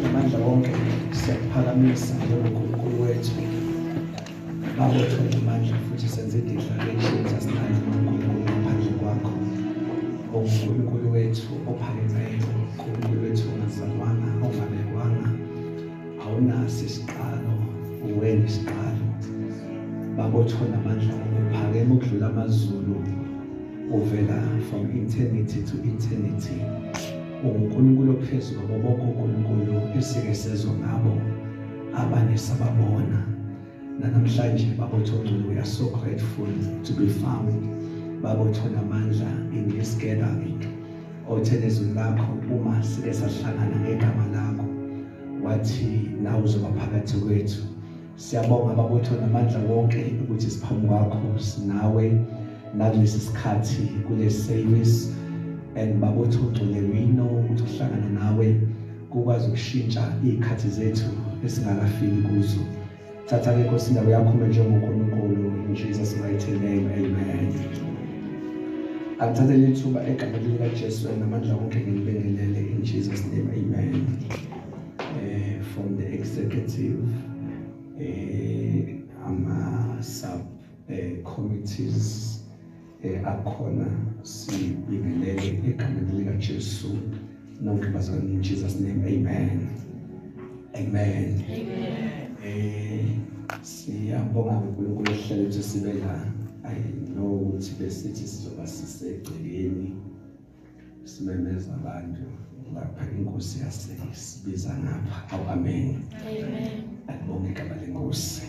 Amandla wonke siyakuphakamisa njengoNkulunkulu wethu. Baba wethu amandla futhi senze i-declaration sasithanda uNkulunkulu ngaphandle kwakho. UNkulunkulu wethu ophakemeyo, uNkulunkulu wethu ongazalwanga, ongabekwanga, awunaso isiqalo, uwena isiqalo. Baba wethu amandla wonke uphakeme ukudlula amazulu uvela from eternity to eternity. unguNkulunkulu ophezulu kwabo bonke uNkulunkulu esike sezwa ngabo abanye sababona nanamhlanje babothongculu we are so grateful to be found babothona amandla in this gathering othe nezwi lakho uma sike sahlangana ngegama lakho wathi nawe uzoba phakathi kwethu Siyabonga babutho namandla wonke ukuthi siphambi kwakho sinawe nakulesi sikhathi kule service and babutho ugcwele wino ukuthi uhlangana nawe kukwazi ukushintsha izikhathi zethu esingakafiki kuzo. Thatha ke Nkosi indawo yakho njengoNkulunkulu in Jesus mighty name amen. Angithathe lithuba egameni likaJesu namandla wonke ngilibingelele in Jesus name amen. uh, from the executive uh, ama sub uh, committees eh akhona sibingelele egameni lika Jesu nonke bazalwane in Jesus name amen amen amen eh siyabonga uNkulunkulu ehlele ukuthi sibe la i know ukuthi besithi sizoba sisegcekeni simemeza abantu lapha inkosi yasisibiza ngapha awu amen alibonge igama lenkosi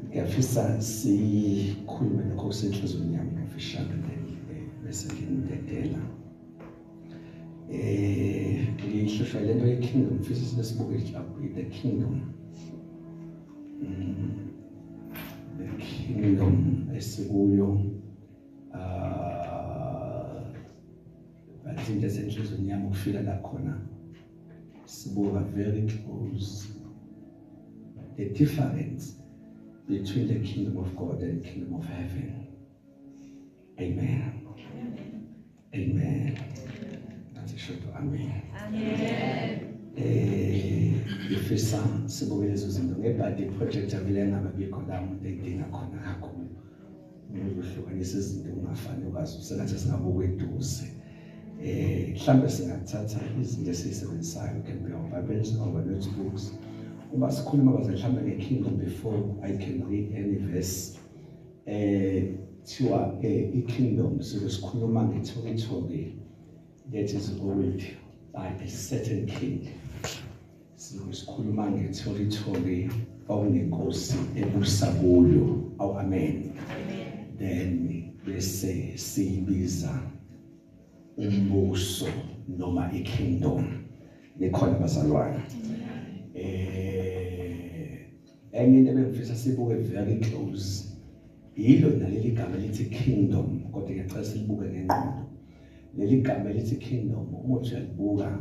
ngiyafisa sikhulume lokho kusenhlizweni yami ngafishane eh, bese nginidedela eh ngihlushwa lento ye-kingdom fisa sinesibuke the kingdom mm, the kingdom esikuyo ngathi into esenhlizweni yami ukufika la khona sibuka very close the difference between the kingdom of God and the kingdom of heaven amen Amen. That's a short amen. Amen. Eh, ngifisa sibuke lezo zinto ngebhadi project avile ngababikho la umuntu edinga khona kakhulu. Ngokuhlukanisa izinto ungafani ukwazi usengathi singabuke eduze. Eh, mhlambe singathatha izinto esizisebenzisayo can be our Bibles or our notebooks. Uma sikhuluma baze mhlambe ngeKingdom before I can read any verse. eh thiwa ke eh, ikingdom sike sikhuluma ngethokethoke that is old by a certain king sike sikhuluma ngethokethoke kwakunenkosi ebusa kuyo aw amen then bese siyibiza umbuso noma ikingdom likhona bazalwane eh Enye into ebengifisa sibuke very close yilo naleli gama elithi kingdom kodwa ngiyacela silibuke ngengqondo leli gama elithi kingdom uma uthi uyalibuka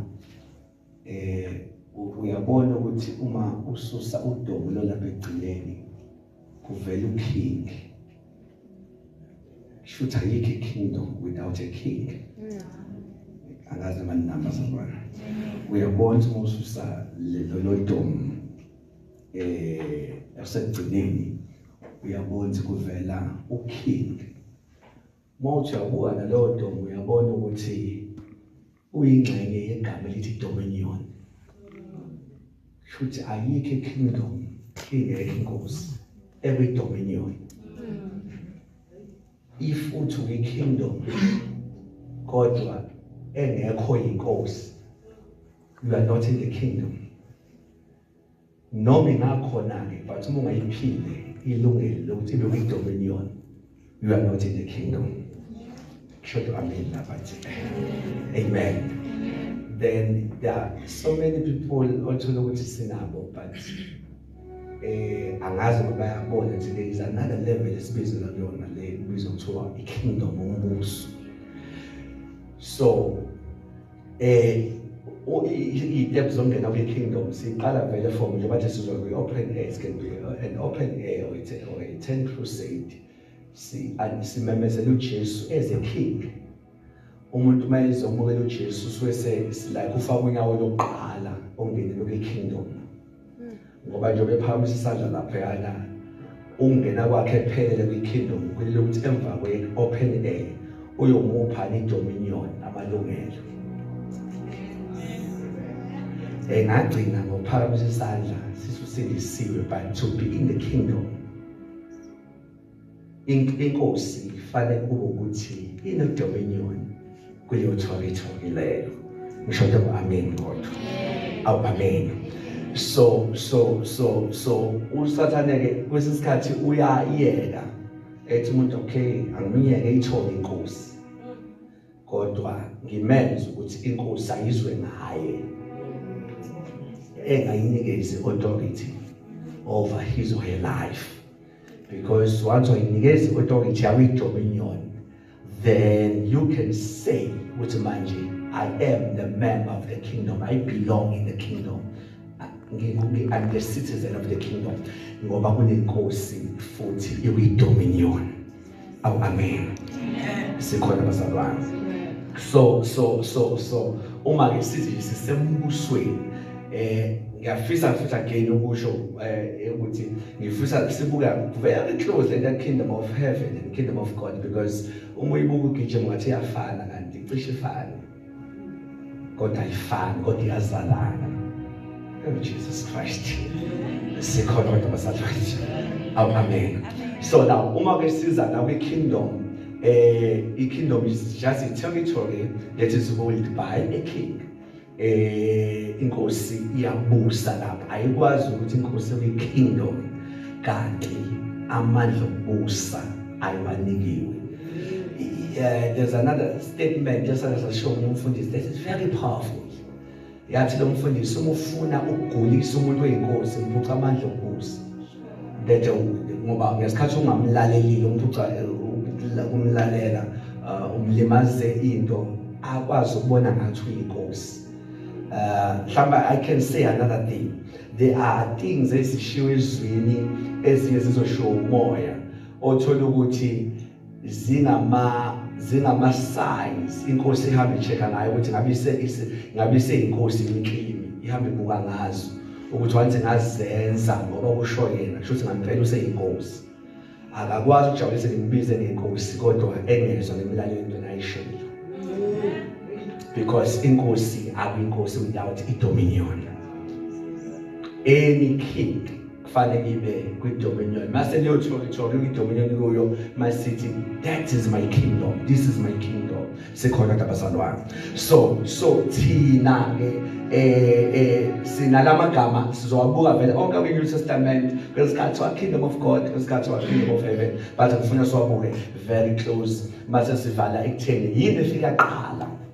eh uyabona ukuthi uma ususa udomo lolapha egcineni kuvela uking shuthi ayikho ikingdom without a king angazi amanamba sabona uyabona uma ususa lelo domo eh yasekugcineni uyabona kuvela uking mawuthi uyabuka naleyo ntombi uyabona ukuthi uyingxenye yegama elithi dominion shuthi ayikho ikingdom ingekho inkosi every dominion if uthi uyi kingdom kodwa engekho inkosi you are not in the kingdom noma ingakhona ke but uma ungayiphile ilungelo lokuthi ibe kwi dominion you are not in the kingdom shoto amen lapha amen then there are so many people othola ukuthi sinabo but eh angazi ukuba yabona nje there is another level esibizela kuyona le ibizwa kuthiwa i-kingdom umbuso so eh i-step zongena kwi-kingdom siqala vele from nje bathi sizwa kwi-open air it can be an open air or a tent crusade simemezela ujesu as a king umuntu uma ezomukela uJesu usuke sesilike ufaka unyawo lokuqala ongenele kwi-kingdom ngoba njengoba ephakamisa isandla lapho yana ungena kwakhe ephelele kwi-kingdom kulile ukuthi emva kwe-open air uyomupha ni-dominion amalungelo engagcina ngokuphakamisa isandla sisusindisiwe but to be in the kingdom inkosi ifanele kube ukuthi inodominion kuleyo territory leyo ngisho nje amen kodwa awu amen so so so so usathane ke kwesinye isikhathi uyayeka ethi umuntu okay angimyeke ithole inkosi kodwa ngimenze ukuthi inkosi ayizwe ngaye engayinikezi authority over his or her life because once wayinikeza iothoki jawu ijobe inyoni then you can say ukuthi manje i am the man of the kingdom i belong in the kingdom I'm the citizen of the kingdom ngoba kunenkosi futhi iwidominion awu amen sikhona bazalwane so so so so uma ke sithi sisembusweni eh ngiyafisa futhi again ukusho eh ukuthi ngifisa sibuka very close le kingdom of heaven and kingdom of god because uma uyibuka ugijima ngathi yafana kanti cishe ifana kodwa ayifani kodwa iyazalana oh Jesus Christ sikhona kodwa basafathi awu amen so now uma ke siza la kwi kingdom eh i kingdom is just a territory that is ruled by a king eh inkosi iyabusa lapha ayikwazi ukuthi inkosi kwi kingdom kanti amandla okubusa ayiwanikiwe eh, there's another statement esazoshiwo umfundisi that is very powerful yathi lo mfundisi uma ufuna ukugulisa umuntu oyinkosi ngiphuca amandla okubusa that ngoba ngesikhathi ungamlalelile umuntu ukumlalela uh, umlimaze into akwazi ukubona ngathi uyinkosi uh, mhlawumbe i can say another thing there are things ezishiwo ezwini ezinye zizoshiwo umoya othola ukuthi zingama zingama signs inkosi ihambe icheka ngayo ukuthi ngabe ise ngabe ise inkosi inklimi ihambe ibuka ngazo ukuthi wanze ngazenza ngoba kusho yena kusho ukuthi ngampela useyinkosi akakwazi ukujabulisa ngimbize ngenkosi kodwa engezwa ngemilalelo into nayishilo because inkosi akuyinkosi without idominion any king fane ngibe kwidominion mase liyothola ithola kwidominion kuyo masithi that is my kingdom this is my kingdom sikhona kabazalwane so so thina ke eh eh sinalama gama sizowabuka vele onke kwi New Testament kwesikhathi wa kingdom of God kwesikhathi wa kingdom of heaven but ngifuna siwabuke very close mase sivala ekutheni yini efika qala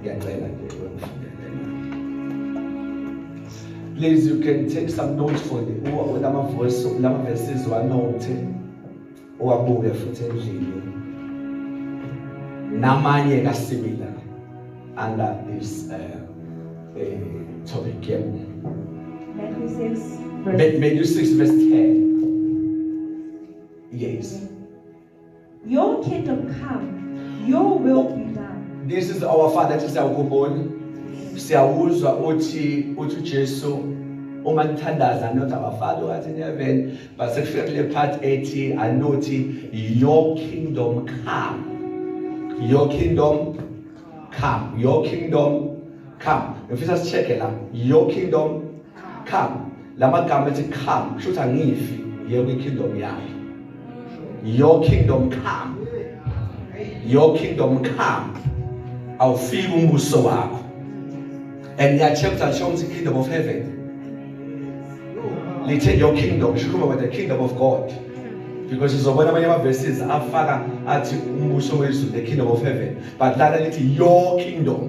ngiyacela nje please you can take some notes for the lama voice lama verses wanote owabuke futhi endlini namanye ka similar under this uh, uh, topic yeah. Matthew 6 verse Matthew 6 verse 10 yes Your kingdom come, your will be done. This is our father ethi siyakubona. Siyawuzwa uthi uthi uJesu uma nithandaza not our father wathi in heaven but sekufika kule part ethi anothi your kingdom come. Your kingdom come. Your kingdom come. Ngifisa sicheke la. Your kingdom come lamagama ethi come kusho ukuthi angifi ngiye kwi kingdom yakhe your kingdom come your kingdom come awufiki umbuso wakho and ngiyacheka ukuthi asho ukuthi kingdom of heaven lithe your kingdom shikhuluma with the kingdom of god because sizobona abanye ama-verses afaka athi umbuso wezulu the kingdom of heaven but lana lithi your kingdom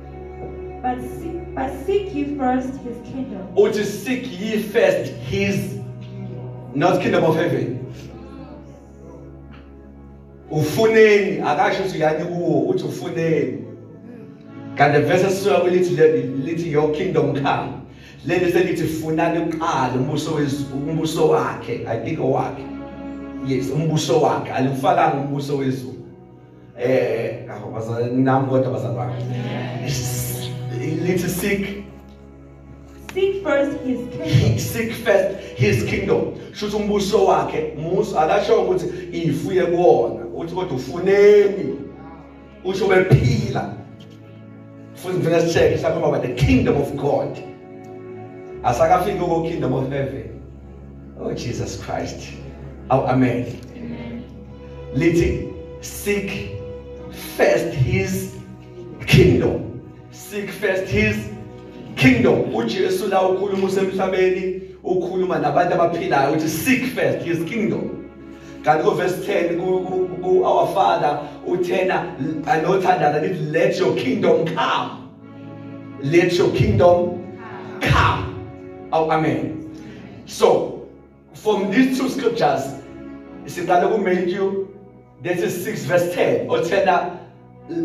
But seek, but seek ye first his kingdom. Uthi seek ye first his not kingdom of heaven. Ufuneni akasho ukuthi yani kuwo uthi ufuneni. Kanti verse sisuka kulithi lithi your kingdom come. Leli selithi funani uqala umbuso wezulu umbuso wakhe I think owakhe. Yes umbuso wakhe alifakanga umbuso wezulu. eh aho bazalwane nami kodwa bazalwane lithi seek seek first his kingdom seek first his kingdom shuthi umbuso wakhe musa akasho ukuthi ifuye kuwona uthi kodwa ufuneni usho bephila futhi ngifuna sicheke sakhuluma about the kingdom of god asakafiki uko kingdom of heaven oh jesus christ aw oh, amen lithi seek first his kingdom seek first his kingdom uJesu la ukhuluma usemhlabeni ukhuluma nabantu abaphilayo uthi seek first his kingdom kanti kuvesi 10 ku-our father uthena anothandaza lithi let your kingdom come let your kingdom come aw oh, amen so from these two scriptures siqale kumatthew that is 6 verse 10 othena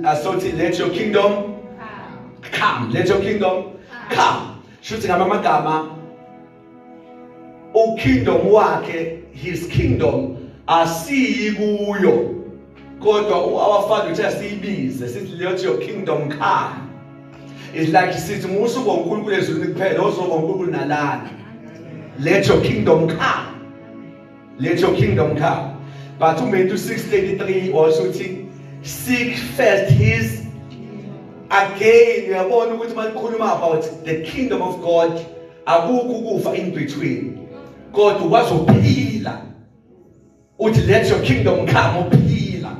asothi uh, let your kingdom come let your kingdom come shuthi ngamamagama ukingdom wakhe his kingdom asiyi kuyo kodwa our father uthi asiyibize sithi let your kingdom come is like sithi musu bonkulunkulu ezulwini kuphela ozoba unkulunkulu nalana let your kingdom come let your kingdom come but uMatthew 6:33 also uthi seek first his again uyabona ukuthi malikhuluma about the kingdom of God akukho ukufa in between kodwa ukwazi ukuphila uthi let your kingdom come uphila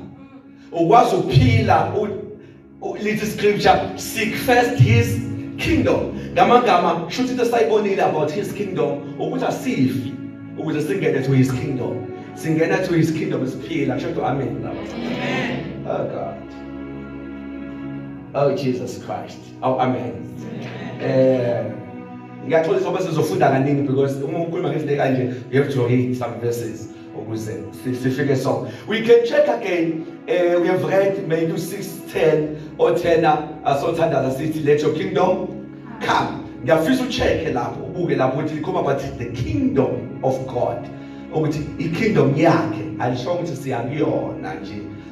ukwazi ukuphila lithi scripture seek first his kingdom ngamagama shuthi into sayibonile about his kingdom ukuthi asifi ukuze singene to his kingdom singena to his kingdom siphila kusho ukuthi amen amen oh god oh jesus christ awu amen eh ngiyaxolisa ngoba sizofunda kaningi because uma ukhuluma ngezinto kanje you have to read some verses ukuze sifike so we can check again uh, we have read Matthew 6:10 othena asothandaza sithi let your kingdom come ngiyafisa ucheck lapho ubuke lapho ukuthi likhoma about the kingdom of God ukuthi ikingdom yakhe alisho ukuthi siyakuyona nje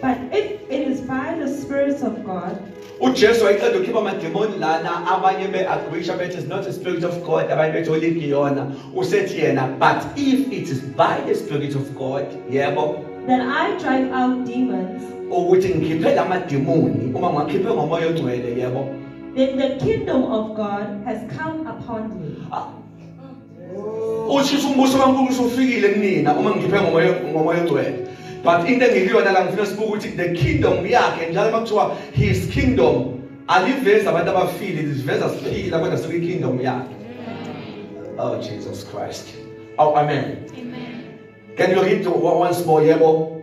But if it is by the Spirit of God, uJesu wayeqeda ukukhipha amademoni lana abanye be-agrisha bethi is not a spirit of God abanye bethi oligiyona usethi yena but if it is by the spirit of God yebo then I drive out demons ukuthi ngikhiphe la mademoni uma ngiwakhiphe ngomoya ongcwele yebo then the kingdom of God has come upon me ah, ushisa umbuso kaNkulunkulu usufikile kunina uma ngikhiphe ngomoya ngomoya ogcwele but into engikuyona la ngifuna sibuke ukuthi the kingdom yakhe njalo makuthiwa his kingdom alivezi abantu abafile liveza siphila kodwa sikwi kingdom yakhe oh Jesus Christ oh amen amen can you read once more yebo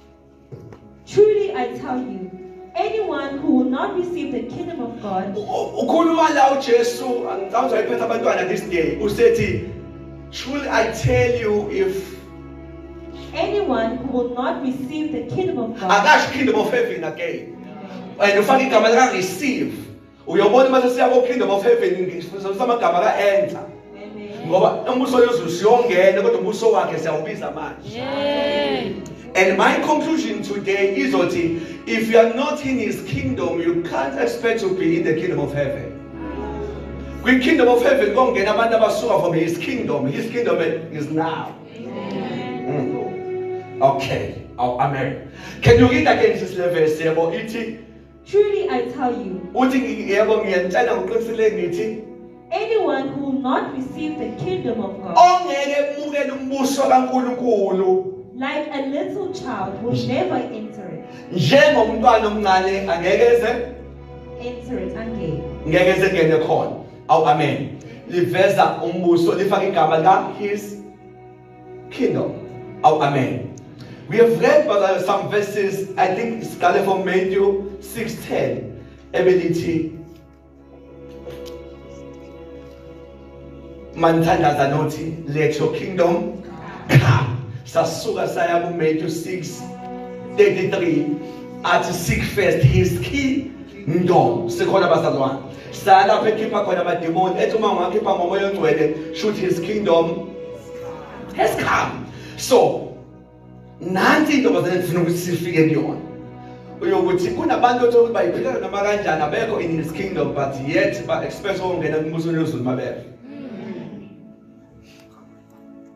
Truly I tell you, anyone who will not receive the kingdom of God ukhuluma la uJesu angicabanga ukuthi ayiphetha abantwana this day usethi truly I tell you if anyone who will not receive the kingdom of God akasho kingdom of heaven again and ufaka igama lika receive uyobona uma sesiya kokingdom of heaven ngifundisa amagama ka-enza ngoba umbuso yezulu siyongena kodwa umbuso wakhe siyawubiza manje And my conclusion today is that if you are not in his kingdom, you can't expect to be in the kingdom of heaven. We kingdom of heaven go get abantu abasuka from his kingdom. His kingdom is now. Mm. Okay. Oh, amen. Can you read again this verse? Truly I tell you, uthi ngi- yebo ngiyanitshela ngoqinisile ngithi anyone who will not receive the kingdom of God ongeke emukele umbuso kankulunkulu like a little child will never enter it. njengomntwana omncane angeke eze Enter it again. ngeke eze ngene khona awu amen liveza umbuso lifaka igama lika his Kingdom. Oh, amen. We have read brother, some verses, I think it's started from Matthew 6:10. Ebelithi Manthandaza nothi let your kingdom come. Sasuka saya ku Matthew 6:33 athi seek first his kingdom. Sikhona bazalwane. saa lapho ekhipha khona amademoni ethi uma ungakhipha ngomoya ongcwele shoot his kingdom has come so nansi into bazane ndifuna ukuthi sifike kuyona uyokuthi kunabantu othola ukuthi bayiphilana noma kanjani abekho in his kingdom but yet ba-expect ukungena kumbusweni wezulu mabeve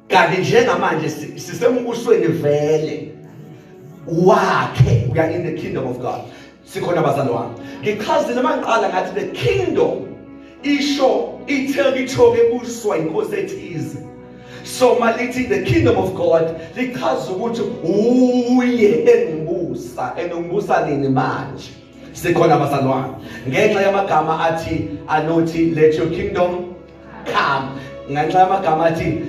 kanti njengamanje sisembusweni vele wakhe we are in the kingdom of god sikhona bazalwane ngichazile mangiqala ngathi the kingdom isho ithekithoke ebuswa inkosi ethize so malithi the kingdom of god lichaza ukuthi uye engibusa engibusa nini manje sikhona bazalwane ngenxa yamagama athi anothi let your kingdom come ngenxa yamagama athi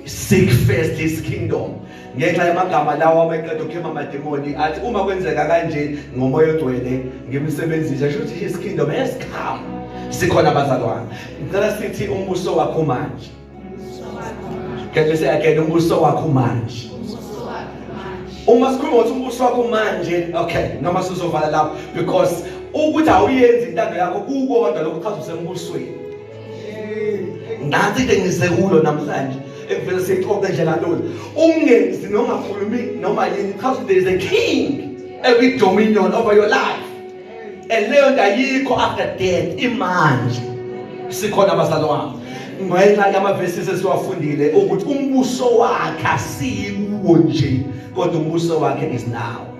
seek first his kingdom ngenxa yamagama lawo abeqeda ukhema amademoni athi uma kwenzeka kanje ngomoya ogcwele ngimsebenzisa sho ukuthi his kingdom has come sikhona bazalwane ngicela sithi umbuso wakho manje ngeke siyakele umbuso wakho manje uma sikhuluma ukuthi umbuso wakho manje okay noma sizovala lapho because ukuthi awuyenzi intando yakho kukodwa lokuchaza usembusweni ngathi ke ngisekulo namhlanje ekuvele sixoxe nje kalula ungenzi noma khulumi noma yini because there is a king every dominion over your life and leyo nto ayikho after death imanje sikhona abazali wami ngenxa yamavesi sesiwafundile ukuthi umbuso wakhe asikuwo nje kodwa umbuso wakhe is now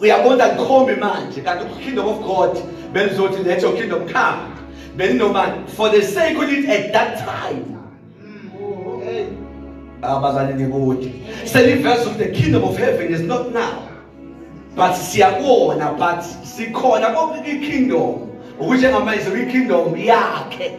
uyabona kukhombe manje kanti ukingdom of god belizothi lethe ukingdom come belinobani for the sake of it at that time abazali nikude seliveza ukuthi the kingdom of heaven is not now but siyakona but sikhona konke kwi-kingdom ukuthi njengamanje kwi-kingdom yakhe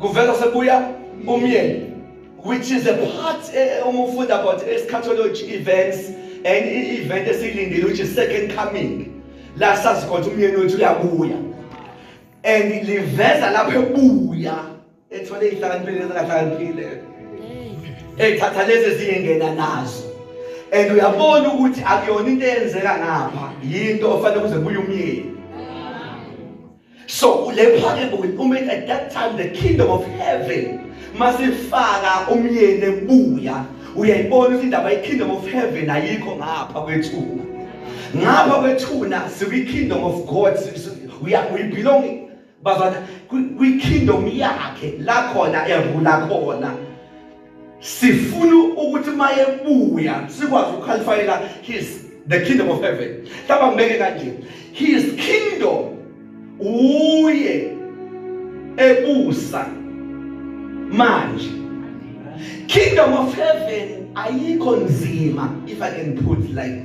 kuvela sekuya umyeni which is a part eh, uma ufunda about eschatology events and i-event esilindile which is second coming la sazi khona umyeni wethu uyabuya and liveza lapho ebuya ethole ihlakaniphile ezingahlakaniphile ethatha lezi ezingena nazo and uyabona ukuthi akuyona into eyenzeka ngapha yinto ofanele kuze kuye umyeni So le parable will mean at that time the kingdom of heaven masifaka umyeni ebuya uyayibona ukuthi indaba ye-kingdom of heaven ayikho ngapha kwethuna ngapha kwethuna sikwi-kingdom of god uyabelong bazana kwi-kingdom yakhe la khona erula khona sifuna ukuthi mayebuya sikwazi ukukhalifaela his the kingdom of heaven hlaba ngibeke kanje his kingdom uye ebusa manje kingdom of heaven ayikho nzima if i can put like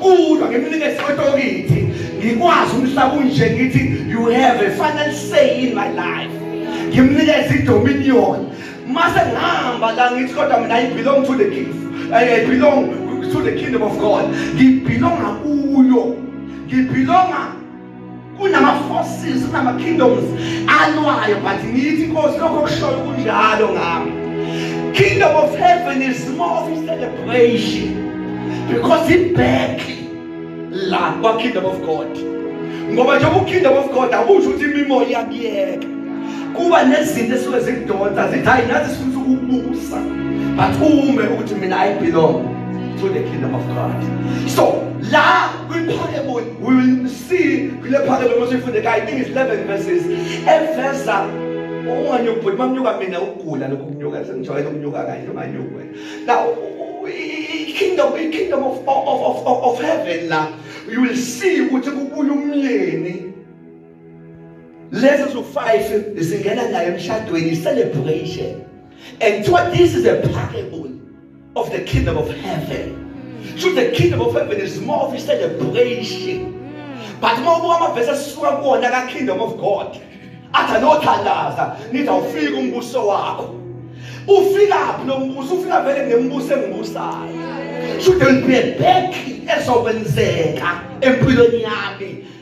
Kulwa ngimnike isikhotokithi ngikwazi umhlaba unje ngithi you have a final say in my life. Ngimnikeza idominion. Mase ngihamba la ngithi kodwa mina I belong to the king. I belong to the kingdom of God. Ngibelonga kuyo. Ngibelonga kunama-forces kunama-kingdoms alwayo but ngiyithi inkosi lokho kushoyo kunjalo ngami kingdom of heaven is more of celebration because ibhek la kwa-kingdom of god ngoba njengoba ukingdom of god akusho ukuthi imimoya iyakuyeka kuba nezinto esuke zikudonsa zithi hayi nathi sifuna ukubusa but ume ukuthi mina i belong to the kingdom of god so la kwi-parable We will see kule phakelo uma sifunde kayi English 11 verses eveza unganyuka bhuti mamnyuka mina ukugula lokhu kunyuka sengijwayele ukunyuka kanje unganyuka wena now kingdom kingdom of of of of heaven la you will see ukuthi kubuya umyeni lezi zu-five zingena nayo emshadweni celebration and kuthiwa this is a parable of the kingdom of heaven so the kingdom of heaven is more of a celebration but uma ubuka amavesi asisuka kuwona ka-kingdom of god athi anothandaza nithi awufika umbuso wakho ufikaphi lo mbuso ufika vele ngembuso engibusayo so there will be a back ezokwenzeka empilweni yami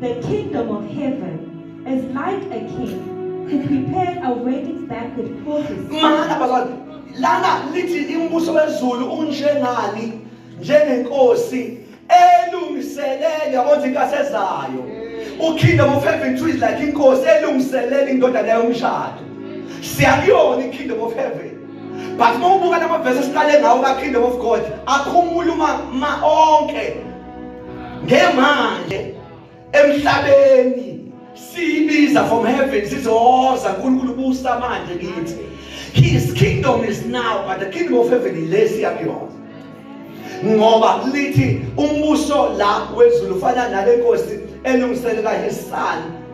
The kingdom of heaven is like a king who prepared a wedding banquet for his Mana bazali, lana lithi imbuso wezulu unjengani njengenkosi elungiselele yabo nje inkathi ezayo. UKingdom of heaven too is like inkosi elungiselele indodana yayo umshado. Siyakuyona ikingdom of heaven. But uma ubuka lama verse esiqale ngawo ka kingdom of God akhumula uma ma onke ngemanje emhlabeni siyibiza from heaven sizoza uNkulunkulu busa manje kithi his kingdom is now but the kingdom of heaven ilesi yakuyona ngoba lithi umbuso la wezulu ufana nale nkosi elungiselela his son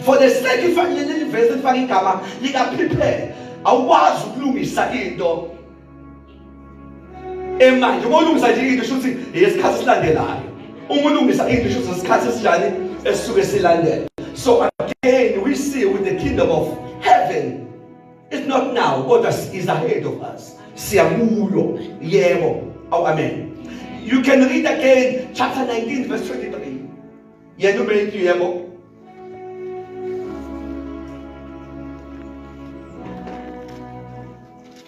for the sake ifanele leli verse lifaka igama lika prepare awukwazi ukulungisa into emanje uma ulungisa nje into shuthi yesikhathi esilandelayo uma ulungisa into shuthi isikhathi esinjani esisuke silandela so again we see with the kingdom of heaven it's not now kodwa is ahead of us siyakuyo yebo aw amen you can read again chapter 19 verse 23 yena ubeyithi yebo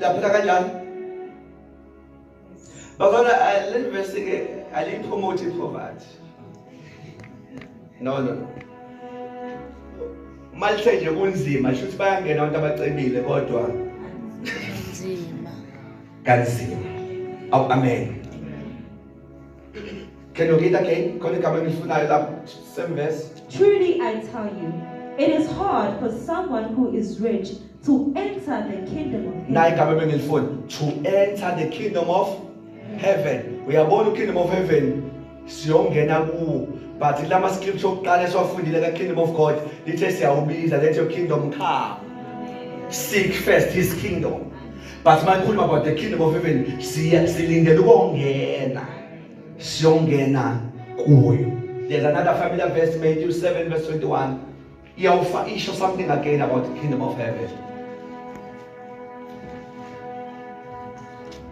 laphela kanjani babona eh, le verse ke aliyipromote ipoverty no no malithe nje kunzima sho ukuthi bayangena abantu abacebile kodwa nzima kanzima awu amen Can you read again? Khona igama engifunayo lapho. Same verse. Truly I tell you, it is hard for someone who is rich to enter the kingdom of heaven. Naye igama ebengilifuna. To enter the kingdom of heaven. Uyabona kingdom of heaven siyongena kuwo but lama scripture okuqala esiwafundile ka kingdom of God lithe siyawubiza let your kingdom come. Seek first his kingdom. but mayikhuluma about the kingdom of heaven siya silindele ukongena siyongena kuyo there's another familiar verse Matthew 7 verse 21 iyawufa isho something again about the kingdom of heaven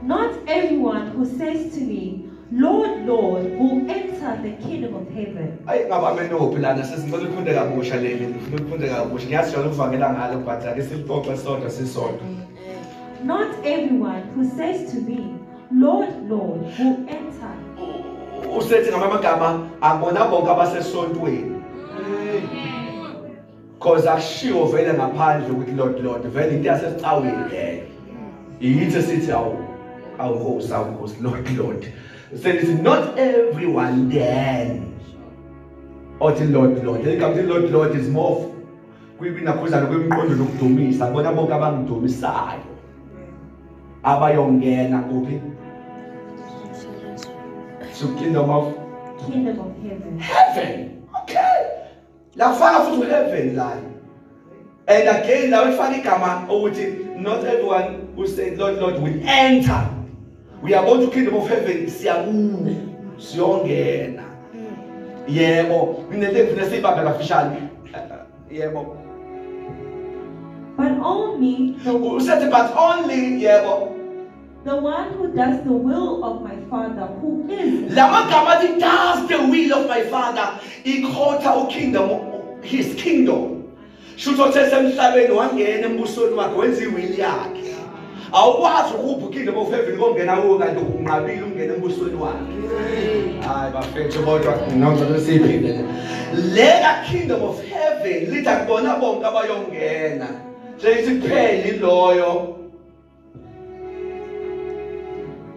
Not everyone who says to me, Lord, Lord, who enter the kingdom of heaven. Ayi ngabame nophi lana sesicela ufunde kabusha leli ngifuna ufunde kabusha ngiyazi jalo uvangela ngalo but ake silixoxe sodwa sisodwa. Not everyone who says to me, Lord, Lord, who enter. Usethi ngamagama abona bonke abasesontweni. cause akushiwo vele ngaphandle ukuthi lord lord vele into yasesicawini leyo yithi sithi awu awu host awu host lord lord says not everyone then othi lord lord igama lithi lord lord is more kwibinakhuzana kwemiqondo nokudumisa bona bonke abangidumisayo abayongena kuphi to kingdom of kingdom of heaven heaven okay la kufaka futhi uheaven layo and again lawo efaka igama ukuthi not everyone who said lord lord will enter we are going to kingdom of heaven siyakuwe siyongena yebo nginento engifuna siyibambe kafishane yebo but only usethi but only yebo The one who does the will of my father who is La magama athi does the will of my father ikhotha ukingdom his kingdom. Shutho sesemhlabeni wangena embusweni wakhe wenza iwill yakhe. Awukwazi ukupha ukingdom of heaven kongena kuwo kanti unqabile ungena embusweni wakhe. Hayi bafethu kodwa nonke lesiphinde. Lela kingdom of heaven litha kubona bonke abayongena. Sesiphele iloyo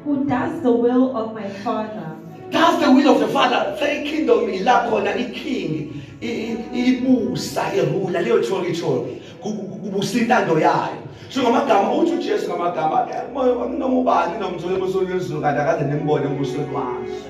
Who does the will of my father? Does the will of the father. Say kingdom ilapho na iking ibusa irula leyo cholo icholo kubusa intando yayo. So ngamagama uthi uJesu ngamagama noma ubani nomzulu emsonweni wezulu kanti akaze nembone ubuso lwazo.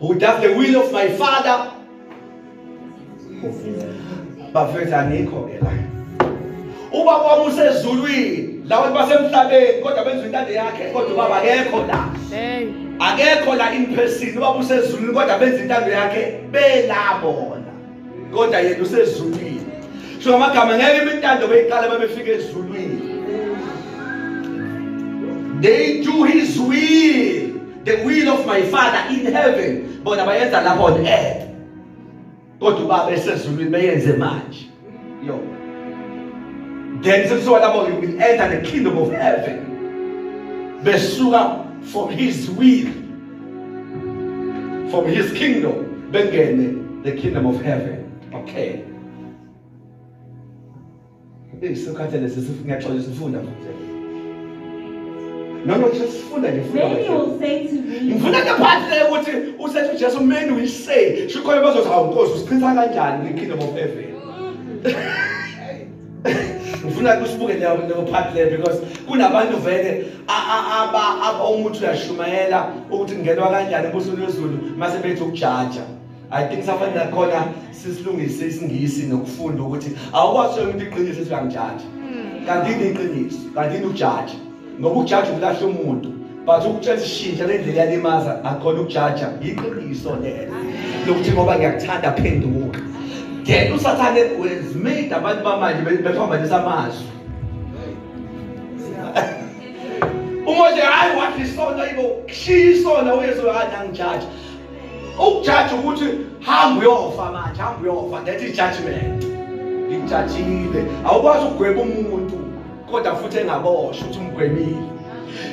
who does the will of my father bafethu angikho ke la uba kwami usezulwini labantu basemhlabeni kodwa benza intando yakhe kodwa ubaba akekho la akekho la in person ubaba usezulwini kodwa benza intando yakhe belabona kodwa yena usezulwini so amagama ngeke imintando beyiqala babefika ezulwini they do his will the will of my father in heaven bona bayenza lapha on earth kodwa ubaba esezulwini beyenze manje yo then sekusuka lapho you will enter the kingdom of heaven besuka from his will from his kingdom bengene the kingdom of heaven okay Hey, sokhathele sisi ngiyaxolisa ufunda futhi. Noma nje sifunda nje funda. Many will say to me. Ngifuna ke phansi le ukuthi usethi uJesu many will say shikhoyo bazothi hawu Nkosi usichitha kanjani kwiKingdom of Heaven. Ngifuna kusibuke leyo leyo part le because kunabantu vele aba aba umuthi uyashumayela ukuthi ngenwa kanjani ebusweni lwezulu mase bethi ukujaja. I think safanele khona sisilungise isingisi nokufunda ukuthi awuwasho umuntu iqiniso ethi uyangijaja hmm. kanti yini iqiniso kanti yini ujaja ngoba ujaja ukulahle umuntu but ukutshela isishintsha lendlela yalimaza akhona ukujaja yiqiniso lelo lokuthi ngoba ngiyakuthanda phenduka then usathane wezimade abantu bamanje befamba lesamazwi umoje hayi wathi isona ibo kushiya isona uyesu hayi angijaja ukujaja ukuthi hamba uyofa manje hamba uyofa that is judgment ngijajile awukwazi ukugweba umuntu kodwa futhi engaboshwa ukuthi umgwebile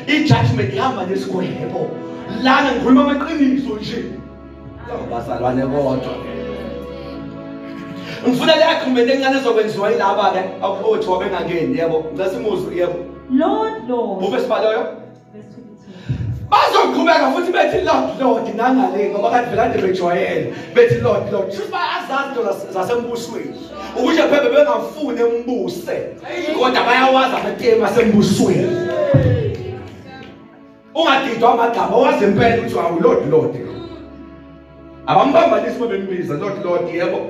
i-judgment ihamba nesigwebo lana ngikhuluma amaqiniso nje bazalwane kodwa ngifuna le agreement encane ezokwenziwa yilaba-ke abaphothiwa bengangeni yebo ngicela simuzwe yebo lord lord ube sibaloyo bazoqhubeka futhi bethi lord lord nangale ngoba kade belande bejwayele bethi lord lord shuthi bayazazi into zasembusweni ukuze phebe bengafuni embuse kodwa bayawazi amatemu asembusweni ungadidwa amagama wazi impela ukuthi awu lord lord abambambanisi uma bembiza lord lord yebo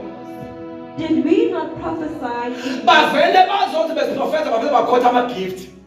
Did we not prophesy? Bavele bazothi besiprofetha bavele bakhotha ama gift.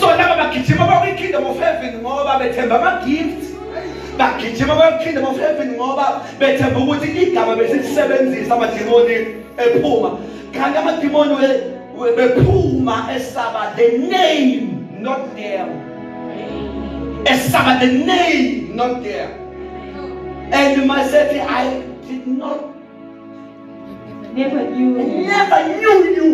so laba bagijima bakwi-kingdom of heaven ngoba bethemba ama-gift bagijima bakwi-kingdom of heaven ngoba bethemba ukuthi igama besilisebenzisa amadimoni ephuma kanti amadimoni bephuma esaba the name not there esaba the name not there and masethi i did not never knew never knew you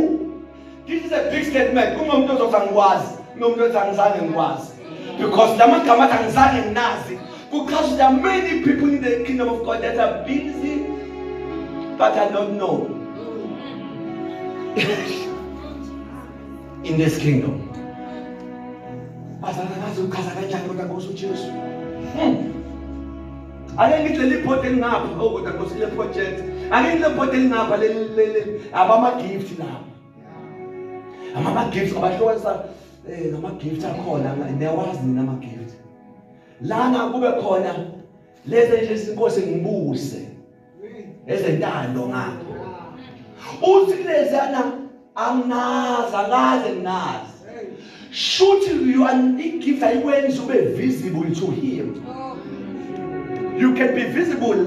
This is a big statement. Kungomuntu ozothi angikwazi, kunomuntu othi angizange ngikwazi. Because la magama athi angizange nginazi. Because there are many people in the kingdom of God that are busy but I don't know. in this kingdom. Bazalakazi uchaza kanjani kodwa ngosuJesu? Hmm. ake ngithi leli bhodi elingapha oh kodwa nkosi le project ake ngithi le bhodi elingapha leli abama-gift labo amama-gift abahlukanisa um ngama-gift akhona niyawazi nina ama-gift lana kube khona lezi nje inkosi ngibuse ezentando ngakho uthi kulezana anginazi angaze nginazi shuthi you are igift ayikwenza ube visible to him you can be visible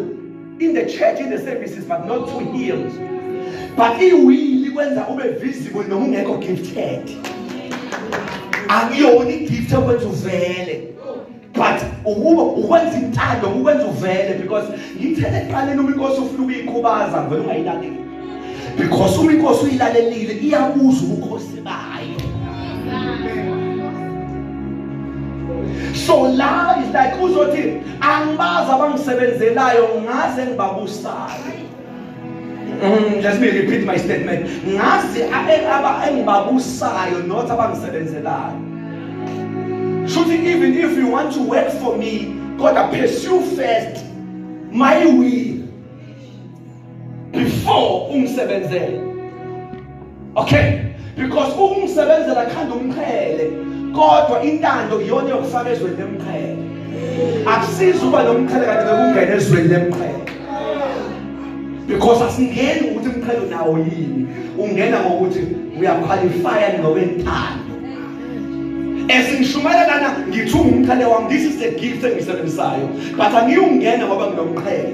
in the church in the services but not to him but iwili kwenza ube visible noma ungekho gifted akuyona igift okwenza uvele but ukuba ukwenza intando ukwenza uvele because ngithele eqaleni uma inkosi ufuna ukuyikhubaza ngivele ungayilaleli because uma inkosi uyilalelile iyabuza ubukhosi bayo so la is like uzothi angibazi abangisebenzelayo ngaze ngibabusayo Mm, let me repeat my statement ngazi aba engibabusayo not abangisebenzelayo shuthi even if you want to work for me kodwa pursue first my will before ungisebenzele okay because ukumsebenzela khanda umqhele kodwa intando iyona yokufaka ezweni lemqhele akusizi uba nomqhele kanti bekungena ezweni lemqhele because asingeni ukuthi umqhele unawo yini ungena ngokuthi uyakhwalifaya ngokwentando esingishumayela lana ngithi ungumqhele wami this is the gift engisebenzisayo but angiwungena ngoba nginomqhele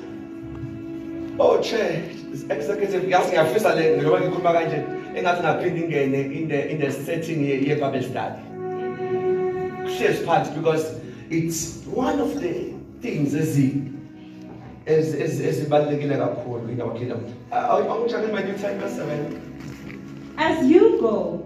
Oh chair, this executive yazi ngiyafisa le njengoba ngikhuluma kanje engathi ngaphinde ingene in the in the setting ye, ye Bible study. Shares part because it's one of the things ezi as as as ezibalekile kakhulu in our kingdom. Awuchakeni my new time 7. As you go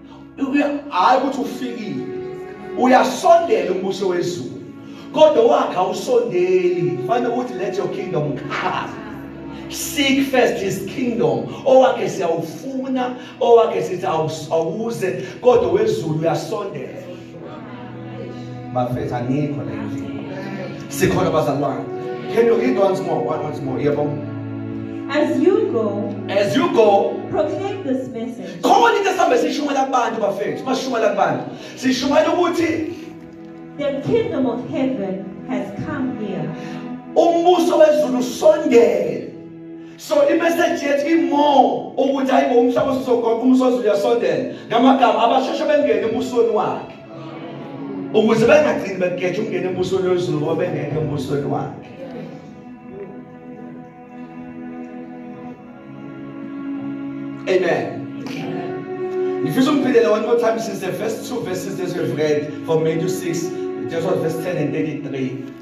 hayi ukuthi ufikile uyasondela umbuso wezulu kodwa wakhe awusondeli fanele ukuthi let your kingdom come seek first his kingdom owakhe siyawufuna owakhe sithi awuze kodwa wezulu uyasondela bafethu angikho la endlini sikhona bazalwane can you read once more one once more yebo as you go as you go proclaim this message khona into esihambe sishumayela kubantu bafethu masishumayela kubantu sishumayela ukuthi the kingdom of heaven has come here umbuso wezulu usondele so imessage yethu imore ukuthi hayi bo umhlaba usizogoqa umsozi uyasondela ngamagama abasheshe bengene emusweni wakhe ukuze bengagcini begeje ukungena embusweni wezulu ngoba bengeke embusweni wakhe amen ngifisa ungiphindele one more time since the first two verses that we've read from Matthew 6 just verse 10 and 33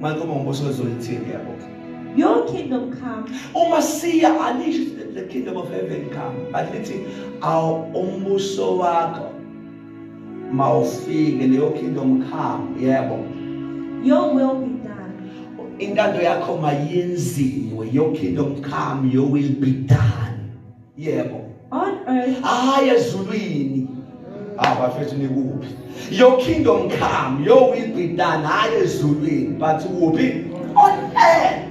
Manje uma umbuso wezolithini yabo. Your kingdom come. Uma siya alisho the kingdom of heaven come. But lithi aw umbuso wakho mawufike leyo kingdom come yebo. Your will be done. Intando yakho mayenziwe. Your kingdom come, your will be done. yebo on earth hayi ezulwini abafethu ah, nikuphi your kingdom come your will be done hayi ezulwini but kuphi on earth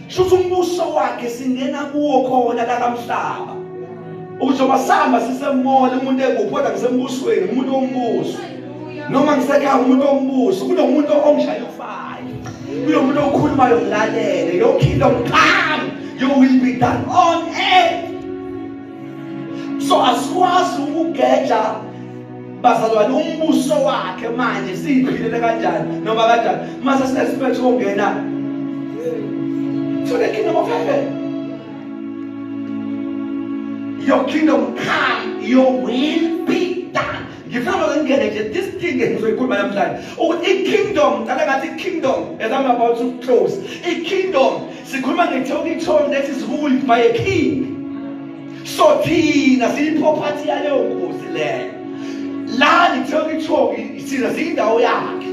shuthi umbuso wakhe singena kuwo khona la kamhlaba uzoba sihamba sisemoya umuntu ekuphi kodwa kusembusweni umuntu wombuso noma ngisekhaya umuntu ombuso kunomuntu ongishaya ufayo kunomuntu okhulumayo ngilalele your kingdom come you will be done on earth so asikwazi ukugeja bazalwane umbuso wakhe manje siyiphilele kanjani noma kanjani mase sinesiphetho kongena to the kingdom of heaven your kingdom come your will be ngifuna ngingene nje this thing engizoyikhuluma namhlanje ukuthi i-kingdom ngicela ngathi i-kingdom as i'm about to close i-kingdom sikhuluma ngethe ukithoni that is ruled by a king so thina siyiproperty yaleyo nkosi leyo la ngithe ukithoni thina siyindawo yakhe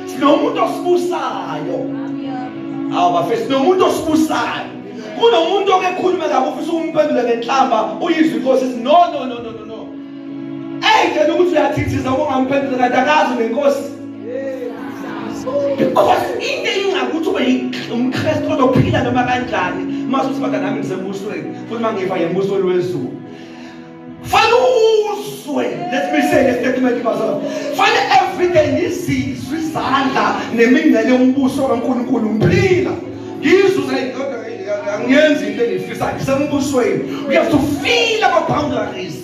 sinomuntu osibusayo awu bafethu sinomuntu osibusayo kunomuntu okekhuluma kabi ufisa ukumphendula ngenhlamba uyizwe inkosi no no no no Eyitshela ukuthi uyathithiza ukungamphendula kanti akazi nenkosi. Because into engakuthi ube umKristu ozophila noma kanjani mase uthi baka nami ngisembusweni futhi mangiva yembusweni wezulu. Fana uzwe let me say this statement bazalwa. Fana everyday ngizizwe izandla nemingcele yombuso kaNkulunkulu ngiphila. Ngizuze indoda angiyenzi into engiyifisa ngisembusweni. You have to feel our boundaries.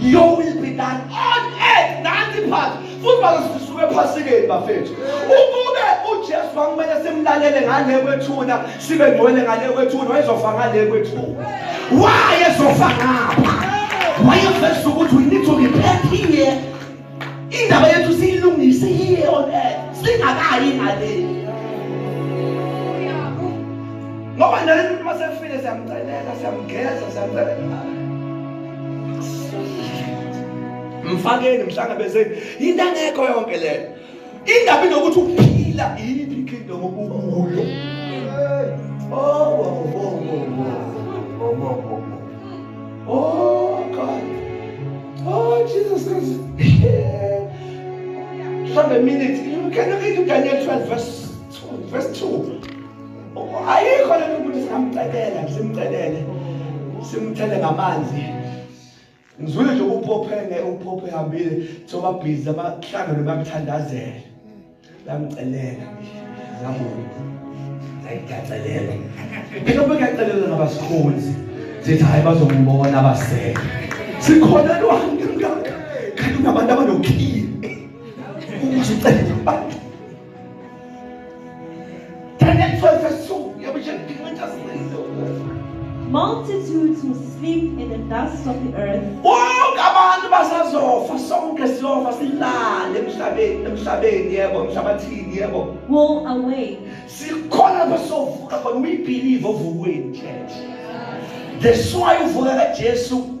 you will be done on earth nanti phansi futhi bazosisuka ephasikeni bafethu ukube ujesu kwakumele simlalele ngale kwethuna sibe ngcwele ngale kwethuna wayezofa ngale kwethuna wayezofa ngapha wayeveza ukuthi we need to repent here indaba yethu siyilungise here on earth singakayi ngale ngoba nale muntu uma sefile siyamcelela siyamgeza siyamcelela mfakeni mhlangabezeni yinto angekho yonke leyo ingabi nokuthi ukuphila yini ikingdom okukuyo Oh God. Oh Jesus Christ. Have a minute. You can read Daniel 12 verse 2. Verse 2. Ayikho lento ukuthi singamcelela, simcelele. Simthele ngamanzi. ngizwile nje ukuphophe ngeke ukuphophe ehambile thoba busy abahlangene bakuthandazele bamcelela ngamona ngayigacelela phela bekacelela nabasikhonzi sithi hayi bazombona abaseke sikhona lwanga kanti kunabantu abanokhile uma sicelela abantu Multitudes will sleep in the dust of the earth. Bonke abantu basazofa sonke siyofa silale emhlabeni emhlabeni yebo emhlabathini yebo. Will awake. Sikhona basovuka khona we believe ovukweni church. That's why uvuka kaJesu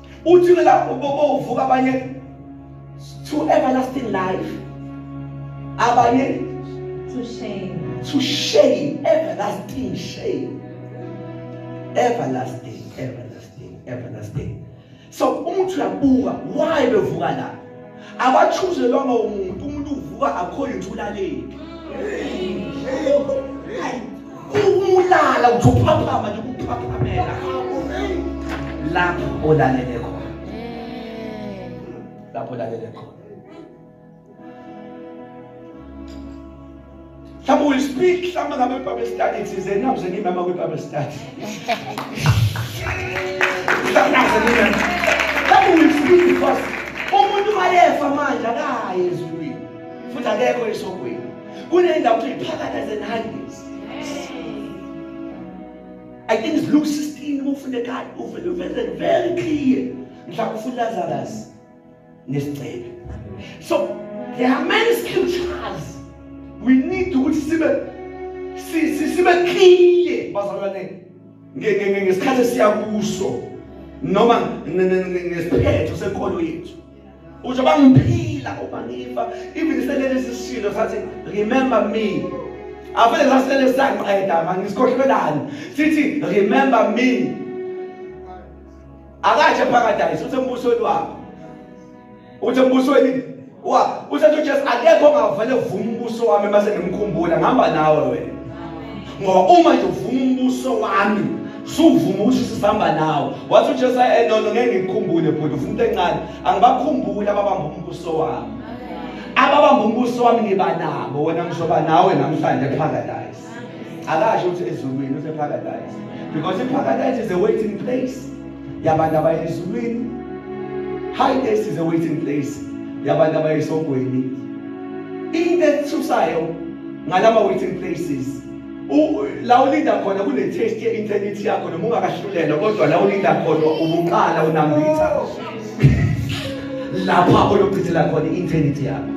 uthi ke lapho bovuka abanye to everlasting life abanye to shame to shame everlasting shame everlasting everlasting everlasting so umuntu uyabuka why bevuka la abachuzelwanga umuntu umuntu uvuka akhoyo ukuthi ulaleni ulala uthi uphaphama nje ukuphaphamela lapho olalele khona lapho olalele khona Mhlawumbe will speak mhlawumbe ngabe iBible study thize nakuze ngimama kwiBible study. Mhlawumbe nakuze ngimama. Mhlawumbe will speak because umuntu mayefa manje akayi ezulwini futhi akekho esokweni. Kunendawo ukuthi iphakatha zenhandis. I think it's Luke 16 ufune kade uvele very clear. Mhlawumbe ufuna Lazarus. nesigcebe so there are many scriptures we need ukuthi sibe sibe clear bazalwane ngesikhathi esiya kuso noma ngesiphetho senkolo yethu uze bangiphila uma ngifa even selele sisilo sathi remember me avele sasele saqeda mangisikhohlelani sithi remember me akatshe paradise uthi embusweni wakho uthi embusweni wa uthi uJesu akekho ongavele vuma umbuso wami mase ngimkhumbula ngihamba nawe wena ngoba uma nje uvuma umbuso wami suvuma ukuthi sisihamba nawe wathi uJesu eh no no ngeke ngikukhumbule bhuti ufuna into encane angibakhumbuli ababamba umbuso wami ababamba umbuso wami ngiba nabo wena ngizoba nawe namhlanje paradise akasho ukuthi ezulwini use paradise because i paradise is a waiting place yabantu abaye ezulwini high place is a waiting place yabantu abaye esogweni into ethusayo ngalama waiting places la ulinda khona kune-test ye-internity yakho noma ungakahlulelwa kodwa la ulinda khona ubuqala unambitha lapha oyobhidela khona i-eternity yakho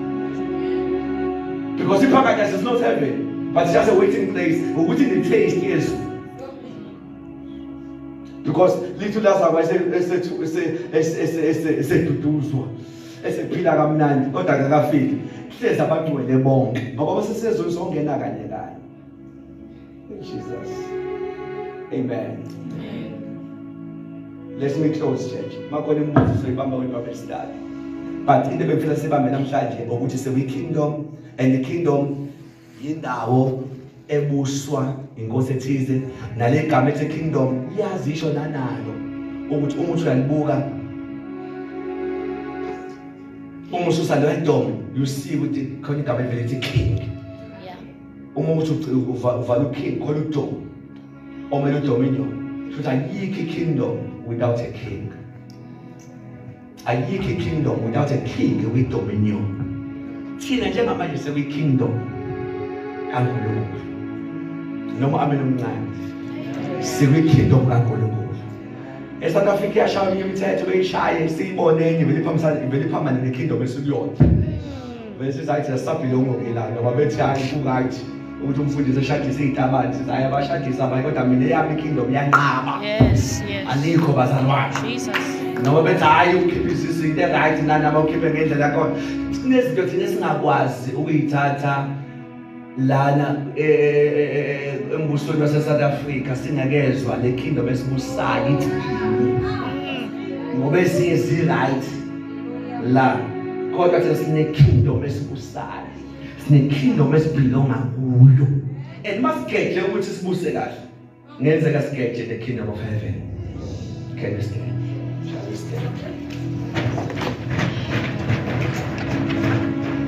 because iparadise is not heaven but just a waiting place ukuthi ne-taste yezulu because lithu lazakwa eseduduzwa esephila kamnandi kodwa kakafiki hlezi abagcwele bonke ngoba basesezweni songena kanye kanye In Jesus. Amen. Amen. Let me close church. Makhona imibuzo soyibamba wena baba esidala. But into ebengifuna sibambe namhlanje ukuthi sewe kingdom and the kingdom yindawo ebuswa inkosi ethize nale gama ethi kingdom iyazisho nanalo ukuthi uma uthi uyalibuka uma ususa leyo ntombi you see ukuthi khona igama elithi king uma uthi uvala uking khona udom omele udominion shuthi ayikho ikingdom without a king ayikho ikingdom without a king with dominion thina njengamanje sekuyikingdom kankulunkulu noma abe nomncane sikwikingdom kankulunkulu esouth africa iyashaya imithetho beyishaye siyibonenye vele iphambisane vele iphambane nekingdom esukuyona Bese sathi asabhilongo ngilana ngoba bethi hayi kungathi ukuthi umfundisi eshadisa izitabani sithi hayi abashadisa abanye kodwa mina eyami ikingdom yanqaba. Yes, yes. Alikho bazalwane. Jesus. Noma bethi hayi ukhiphe isisu into eright nani abawukhiphe ngendlela yakhona. Sinezinto thina esingakwazi ukuyithatha lana e, e, e, embusweni waseSouth Africa singakezwa le kingdom esibusayo ithi ngoba esinye si-right la kodwa thina sine-kingdom esibusayo sine-kingdom esibhilonga kuyo and masigeje ukuthi sibuse kahle ngenzeka sigeje the kingdom of heaven can we stand shall we stand